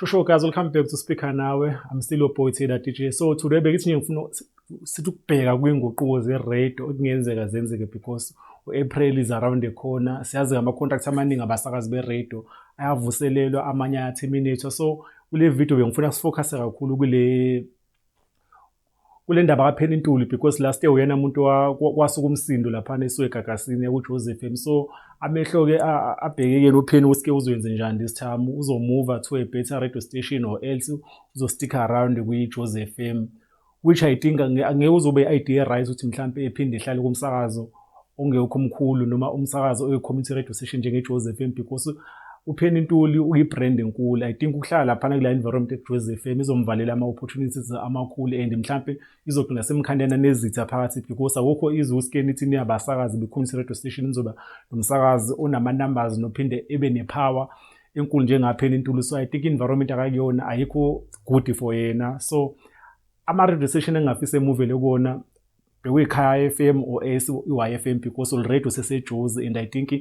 Shosho guys, welcome back to Speaker Nawe. I'm still your boy Taylor DJ. So today bengithi nje ngifuna sithi ukubheka kwinguquko ze-radio okungenzeka zenzeke because u-April is around the corner. Siyazi ngama-contract amaningi abasakazi be-radio ayavuselelwa amanye ayaterminatwa. So kule video bengifuna sifocuse kakhulu kule kule ndaba kaphela intuli because last year uyena muntu kwasuka umsindo laphana esiwegagasini yakujoseph m so amehlo-ke abhekekeni upheni ukuthi-ke uzoyenze njani this time uzomuva to a better radio station or else uzostick around kwi-joseph m which i think angeke uzobe i-idea right ukuthi mhlawumpe ephinde ehlale kumsakazo ongekho mkhulu noma umsakazi oyi-community radio station njengejozi FM because upheni ntuli uyi-brand enkulu i think ukuhlala laphana kula environment ejozi FM izomvalela ama-opportunities amakhulu and mhlampe izogcina semkhandana nezitha phakathi because akukho izwe uskeni ithi niyabasakazi be-community radio station nizoba nomsakazi onama-numbers nophinde ebe ne-power enkulu njengapheni ntuli so i think environment akakuyona ayikho good for yena so ama-radio station engingafisa emuvele kuwona bekuyikhaya FM or i-YFM because already usesejuzi and I think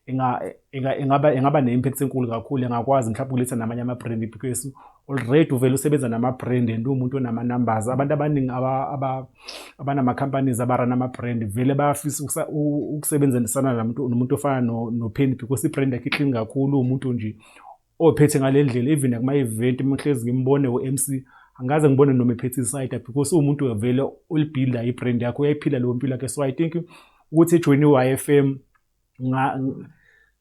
ingaba ingaba ne-impact enkulu kakhulu engakwazi mhlawumbe ukuletha namanye ama-brand because already uvele usebenza nama-brand and uwumuntu onama-numbers abantu abaningi abanama-companies abarana ama-brand vele bayafisa ukusebenzisana nomuntu ofana no-penny because i-brand yakhe iklini kakhulu uwumuntu nje ophethe ngale ndlela even akuma event uma hlezi ngimbone uMC angikaze ngibone noma ephethe isayida because uwumuntu wevele olibhilda ibrand yakho uyayiphila leyo mpilo yakhe so i think ukuthi ejoyine i-YFM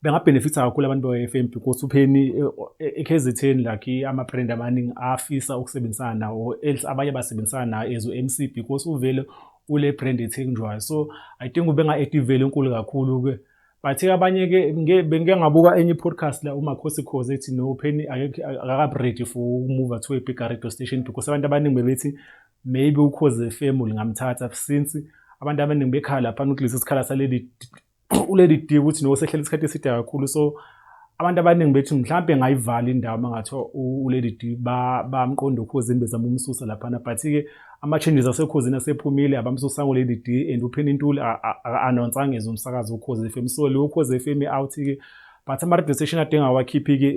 bengabhenefitha kakhulu abantu be-YFM because upheni ekhezetheni like ama-brand amaningi afisa ukusebenzisana nawo else abanye basebenzisana nayo as u-mc because uvele ule brand ethenjwayo so i think ubenga-activele enkulu kakhulu-ke but abanye ke bengike ngabuka enye podcast la umakhosi khoze ethi no pheni akakabi ready for ukumuva to a bigger radio station because abantu abaningi bebethi maybe ukhoze fm lingamthatha since abantu abaningi bekhala phana ukuthi lesi sikhala saleli uleli dika ukuthi no sehlela isikhathi eside kakhulu so abantu abaningi bethi mhlawumbe ngayivala indawo uma ngathi ulady d bamqonda ukhuzini bezama umsusa laphana but-ke ama-changes asekhuzini asephumile abamsusanga ulady d and upheni intuli anonsanga eze umsakazi ukhozi fm so leyo ukhozi fm out-ke but ama-radio station adinga awakhiphi-ke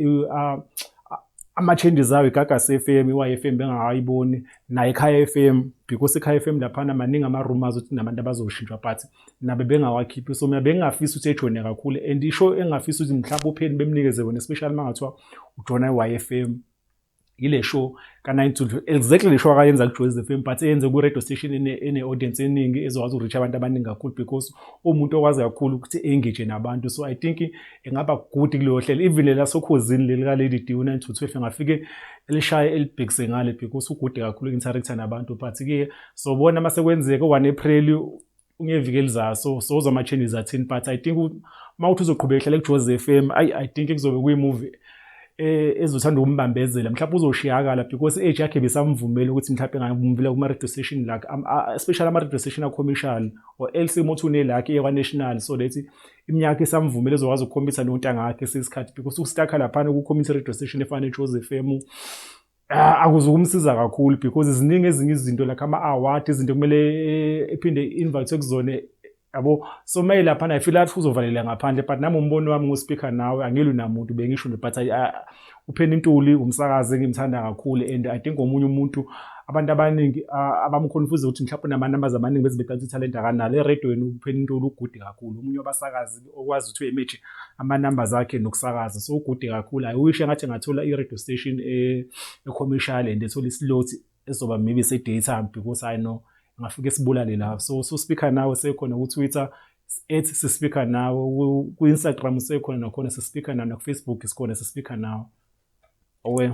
ama-changes awo igagas f m iwa f m bengakayiboni naye ekhaya f m because ekhaya f m laphana maningi ama-rumors ukuthi nabantu abazoshintshwa but nabe bengawakhiphi so mina bengingafisa ukuthi ejoyine kakhulu and isho engingafisa ukuthi mhlawumbe upheni bemnikeze wona especially uma ngathiwa ujona i-y f m yile show ka-nine to exactly le show akayenza ku-joyz f m but eyenze ku-radio station ene-audience eningi ezokwazi uku-reach abantu abaningi kakhulu because uwumuntu okwazi kakhulu ukuthi engage nabantu so i think engaba good kuleyo hlela even lela sokhozini leli ka-lady d u-nine to twelve engafike elishaye elibhekise ngale because ugude kakhulu i-interactor nabantu but-ke sobona uma sekwenzeka u-one april ungevikeli zaso soza ama changes athini but i think mawuthi uzoqhubeka ehlale kuJoze FM i i think kuzobe kuyi movie eh ezothanda ukumbambezela mhlawumbe uzoshiyakala because age yakhe besamvumela ukuthi mhlawumbe ngayimvumela kuma radio station la especially ama radio station a commercial or else umuntu une lakhe ye national so that iminyaka isamvumela ezokwazi ukukhombisa nontanga yakhe sesikhathi because ukustakha lapha ukukhombisa radio station efana neJoze FM Ah, akuzukumsiza kakhulu because ziningi ezinye izinto like ama-award izinto kumele eh, ephinde invite kuzona yabo so maye lapha naye feel athi uzovalela ngaphandle but nami umbono wami ngospeaker nawe angilwi namuntu bengisho nje but ah, upheni intuli umsakazi engimthanda kakhulu and i think omunye umuntu abantu abaningi ah, abamkhonfuza ukuthi mhlawumbe nama-numbers amaningi beze beqala ukuthi ithalente akanalo eredweni upheni intuli ugude kakhulu omunye wabasakazi okwazi ukuthi uyemeje ama-numbers akhe nokusakaza so ugude kakhulu i wish engathi engathola i-radio station e-commercial and ethola isilot ezoba maybe se-daytime because i know ngafike sibulale lapho so so speaker nawe sekhona ku-twitter ethi sispeaker nawe ku-instagram sekhona nakhona sispeaker nawe nakufacebook sikhona sispeaker nawe owe